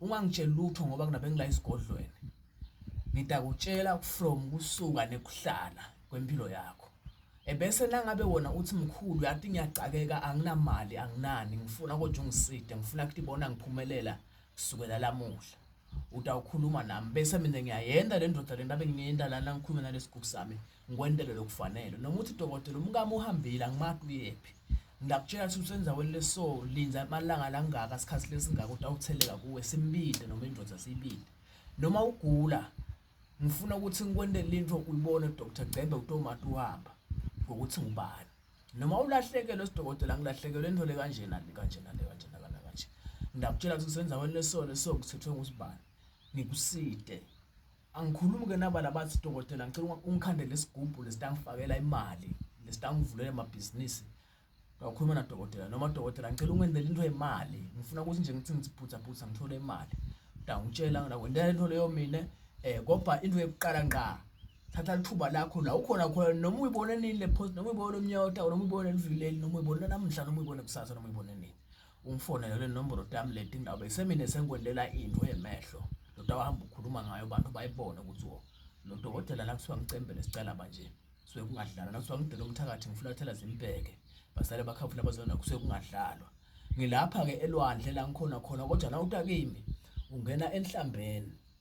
ungangitsheli lutho ngoba kunabe ngila isigodlweni ngidakutshela from kusuka nekuhlala kwempilo yakho ebese nangabe wona uthi mkhulu yathi ngiyagcakeka anginamali anginani ngifuna kodwa ungiside ngifuna ukuthi bona ngiphumelela kusukela lamuhla utawukhuluma nami bese mina ngiyayenda le ndoda le ndabe ngiyenda lana ngikhulume nalesigugu sami ngikwentele lokufanele noma uthi dokotela umkami uhambile angimati uyephi ngiyakutshela ukuthi usendaweni leso linda amalanga langaka sikhathi lesingaka utawutheleka kuwe simbinde noma indoda siyibinde noma ugula ngifuna ukuthi ngikwentele into uyibone Dr Gcembe utomati uhamba ngokuthi ngubani noma ulahlekelwe sidokotela ngilahlekelwe into le kanjena le kanjena le kanjena kana kanje ngiyakutshela ukuthi usendaweni leso leso kuthethwe ngusibani ngikuside Angikhulumi ke naba labathi dokotela ngicela ungikhandele isigubhu lesitangifakela imali lesitangivulele amabhizinisi ngakhuluma nadokotela noma dokotela ngicela ungenzele into yemali ngifuna ukuthi nje ngithi ngiziphutha phutha ngithole imali utangitshela nakwendela into leyo mina eh kodwa into yokuqala ngqa thatha lithuba lakho la ukhona khona noma uyibone nini le post noma uyibone umnyota noma uyibone livileli noma uyibone namhla noma uyibone kusasa noma uyibone nini ungifonele kule nombolo dam leti ndawo besemine sengikwendela into yemehlo lodwa wahamba ukhuluma ngayo abantu bayibone ukuthi wo lo dokotela la kuthiwa ngicembele sicela manje suke kungadlalwa nakuthiwa ngidela umthakathi ngifulathela zimbheke basale bakhavula bazona kusuke kungadlalwa ngilapha-ke elwandle la ngikhona khona kodwa nawutakimi ungena enhlambeni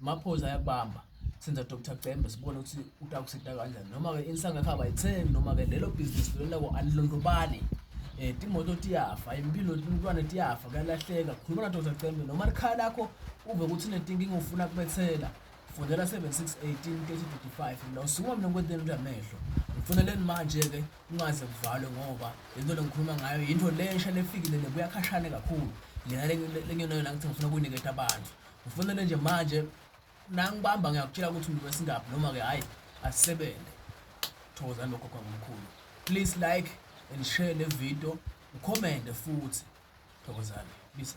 Maphoyisa ayakubamba senza Dr Cembe sibone ukuthi utakusida kanjani noma-ke insanga yakhe abayithembi noma-ke lelo bhizinisi lelo lako alilondobali um timoto tiyafa impilo umntwana tiyafa kuyalahleka khuluma na Dr Cembe noma likhaya lakho uve ukuthi unetinkinga ufuna kubethela fundela 7618 mina usukuma mina ngikwenteni ukuthi amehlo ngifuneleni manje-ke ungaze kuvalwe ngoba lento lengikhuluma ngayo yinto lensha lefikile le kuyakhashane kakhulu lena lengenayona ngithi ngifuna kuyiniketa abantu Ufunele nje manje nangibamba ngiyakutshela ukuthi umuntu wesingaphi noma ke hayi asisebenze. Thokozani lokho kwamkhulu. Please like and share le video, ucommente futhi. Thokozani. Bisa.